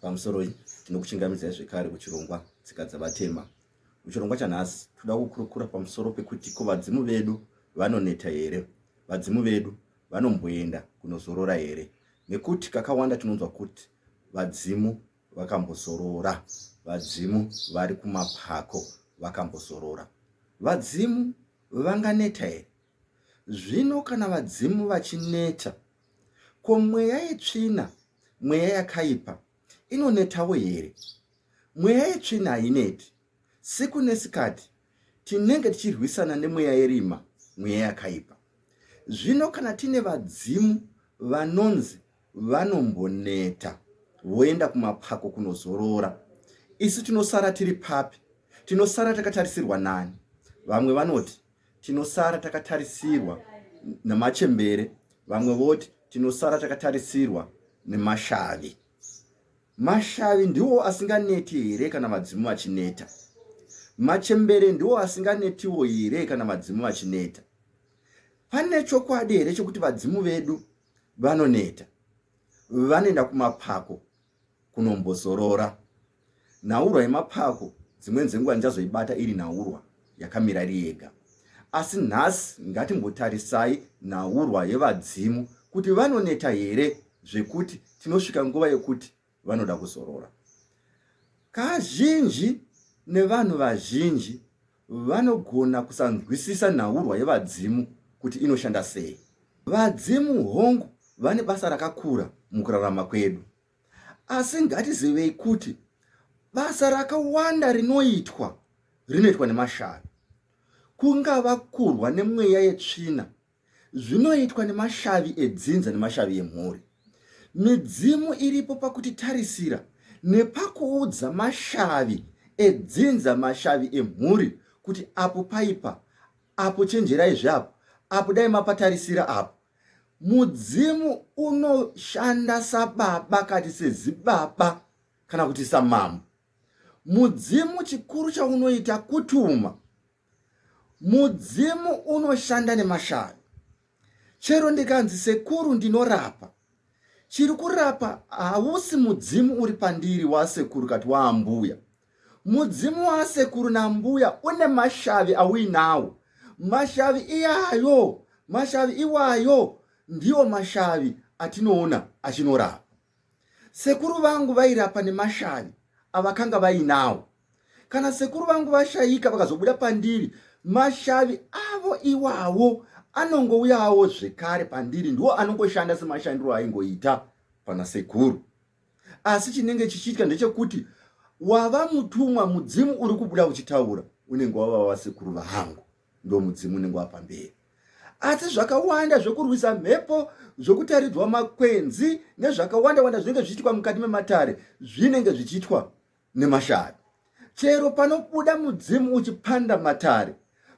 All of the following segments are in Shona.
Pamusoroi, tinokuchingamidzai zvekare kuchirongwa Tsika Dzavatema. Muchirongwa chanhasi, tinoda kukurukura pamusoro pekuti ko vadzimu vedu vanoneta here? Vadzimu vedu vanomboenda kunozorora here? Nekuti kakawanda tinonzwa kuti vadzimu vakambozorora, vadzimu vari kumapako vakambozorora. Vadzimu vanganeta here? Zvino kana vadzimu vachineta, ko mweya yetsvina, mweya yakaipa, inonetawo here? Mweya yetsvina haineti. Siku nesikati tinenge tichirwisana nemweya yerima, mweya yakaipa. Zvino kana tine vadzimu vanonzi vanomboneta, voenda kumapako kunozorora, isu tinosara tiri papi? Tinosara takatarisirwa nani? Vamwe vanoti tinosara takatarisirwa nemachembere vamwe voti tinosara takatarisirwa nemashavi mashavi ndiwo asinganeti here kana vadzimu vachineta machembere ndiwo asinganetiwo here kana vadzimu vachineta pane chokwadi here chekuti vadzimu vedu vanoneta vanoenda kumapako kunombozorora. Nhaurwa yemapako dzimweni dzenguva ndichazoibata iri nhaurwa yakamira iri yega. Asi nhasi ngatimbotarisai nhaurwa yevadzimu kuti vanoneta here zvekuti tinosvika nguva yekuti vanoda kuzorora. Kazhinji nevanhu vazhinji vanogona kusanzwisisa nhaurwa yevadzimu kuti inoshanda sei. Vadzimu, hongu, vane basa rakakura mukurarama kwedu, asi ngatizivei kuti basa rakawanda rinoitwa rinoitwa nemashavi, kungava kurwa nemweya yetsvina Zvinoitwa nemashavi edzinza nemashavi emhuri. Midzimu iripo pakutitarisira nepakuudza mashavi edzinza mashavi emhuri kuti apo paipa apo chenjerai zveapo apo dai mapatarisira apo mudzimu unoshanda sababa kati sezibaba kana kuti samambo mudzimu chikuru chaunoita kutuma Mudzimu unoshanda nemashavi. Chero ndikanzi sekuru ndinorapa, chiri kurapa hausi mudzimu uri pandiri wasekuru kati waambuya. Mudzimu wasekuru nambuya une mashavi auinawo. Mashavi iyayo, mashavi iwayo ndiwo mashavi atinoona achinorapa. Sekuru vangu vairapa nemashavi avakanga vainawo. Kana sekuru vangu vashaika vakazobuda pandiri, mashavi avo iwawo anongouyawo zvekare pandiri, ndiwo anongoshanda semashandiro aingoita pana sekuru. Asi chinenge chichiitya ndechekuti wava mutumwa, mudzimu uri kubuda uchitaura unenge wava wasekuru vangu. ndomudzimu unenge wapamberi asi zvakawanda zvekurwisa mhepo zvokutaridzwa makwenzi nezvakawanda wanda zvinenge zvichiitwa mukati mematare zvinenge zvichiitwa nemashavi chero panobuda mudzimu uchipanda matare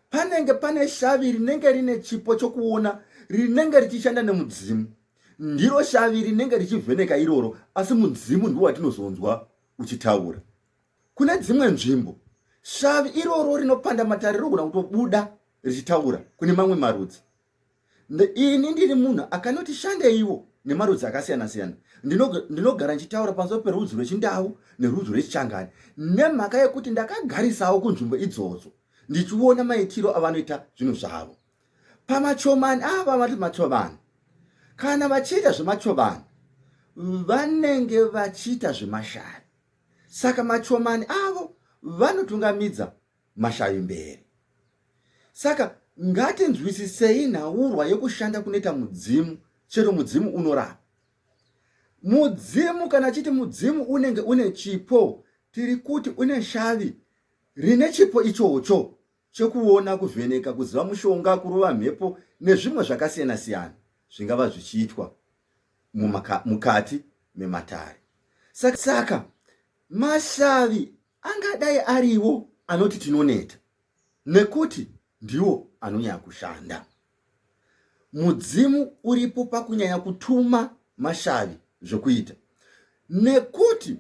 panenge pane shavi rinenge rine chipo chokuona rinenge richishanda nemudzimu ndiro shavi rinenge richivheneka iroro asi mudzimu ndiwo watinozonzwa uchitaura Kune dzimwe nzvimbo shavi iroro rinopanda matare rinogona kutobuda richitaura kune mamwe marudzi. Ini ndiri munhu akanoti shandeiwo nemarudzi akasiyana siyana ndinogara ndichitaura pamusoro perudzi rwechindau nerudzi rwechichangani nemhaka yekuti ndakagarisawo kunzvimbo idzodzo ndichiona maitiro avanoita zvinhu zvavo pamachomani ava vati machobani kana vachiita zvemachobani vanenge vachiita zvemashavi Saka machomani avo vanotungamidza mashavi mberi. Saka ngatinzwisisei nhaurwa yekushanda kunoita mudzimu, chero mudzimu unorapa. Mudzimu kana chiti mudzimu unenge une chipo, tiri kuti une shavi rine chipo ichocho. chekuona, kuvheneka, kuziva mushonga, kurova mhepo nezvimwe zvakasiyana siyana zvingava zvichiitwa mukati mematare. Saka, saka mashavi angadai ariwo anoti tinoneta nekuti ndiwo anonyanya kushanda. mudzimu uripo pakunyanya kutuma mashavi zvekuita nekuti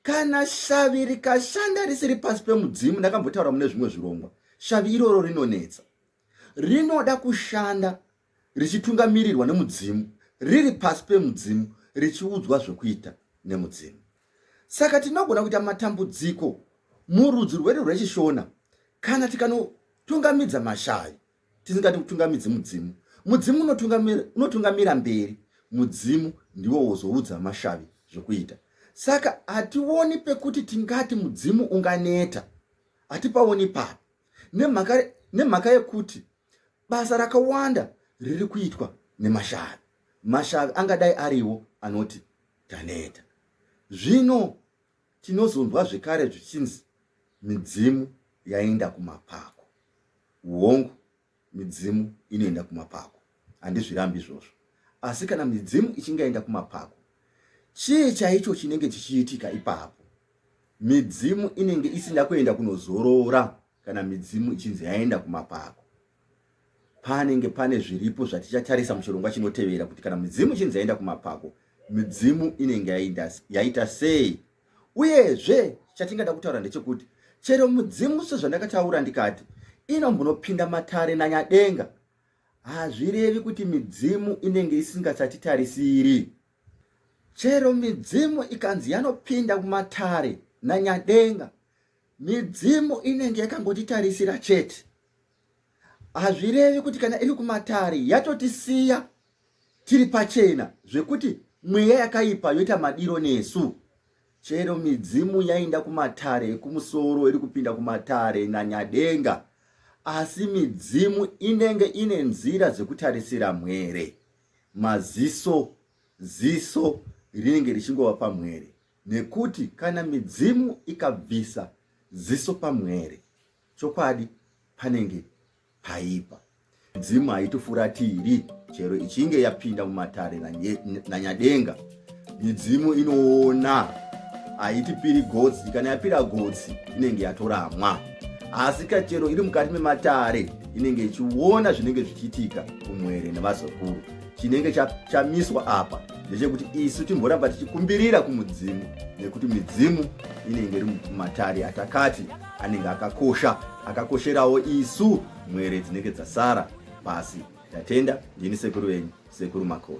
kana shavi rikashanda risiri pasi pemudzimu ndakambotaura mune zvimwe zvirongwa shavi iroro rinonetsa rinoda kushanda richitungamirirwa nemudzimu riri pasi pemudzimu richiudzwa zvekuita nemudzimu saka tinogona kuita matambudziko murudzi rwedu rwechishona kana tikanotungamidza mashavi tisingati kutungamidzi mudzimu mudzimu unotungamira unotungamira mberi mudzimu ndiwo wozoudza mashavi zvokuita saka hationi pekuti tingati mudzimu unganeta hatipaoni pano nemhaka nemhaka yekuti basa rakawanda riri kuitwa nemashavi mashavi angadai ariwo anoti taneta zvino Tinozonzwa zvekare zvichinzi midzimu yaenda kumapako. Hongu, midzimu inoenda kumapako, handizvirambi izvozvo. Asi kana midzimu ichinge yaenda kumapako, chii chaicho chinenge chichiitika ipapo? Midzimu inenge isina kuenda kunozorora kana midzimu ichinzi yaenda kumapako. panenge pane zviripo zvatichatarisa muchirongwa chinotevera kuti kana midzimu chinzi yaenda kumapako midzimu inenge yaita sei uyezve chatingada kutaura ndechekuti chero mudzimu sezvandakataura ndikati inombunopinda matare nanyadenga hazvirevi kuti midzimu inenge isingasatitarisiri chero midzimu ikanzi yanopinda kumatare nanyadenga midzimu inenge yakangotitarisira chete hazvirevi kuti kana iri kumatare yatotisiya tiri pachena zvekuti mweya yakaipa yoita madiro nesu chero midzimu yainda kumatare ekumusoro iri kupinda kumatare nanyadenga asi midzimu inenge ine nzira dzekutarisira mwere maziso ziso rinenge richingova pamwere Nekuti kana midzimu ikabvisa ziso pamwere, chokwadi panenge paipa. Midzimu haitofuratiri chero ichinge yapinda mumatare nanyadenga. Midzimu inoona, haitipiri gotsi. Kana yapira gotsi, inenge yatoramwa. Asi ka chero iri mukati mematare, inenge ichiona zvinenge zvichiitika kumwere nevazukuru. chinenge chamiswa apa ndechekuti isu timboramba tichikumbirira kumudzimu nekuti midzimu inenge iri mumatari atakati anenge akakosha akakosherawo isu mwere dzinenge dzasara pasi tatenda ndini sekuru venyu sekuru makoni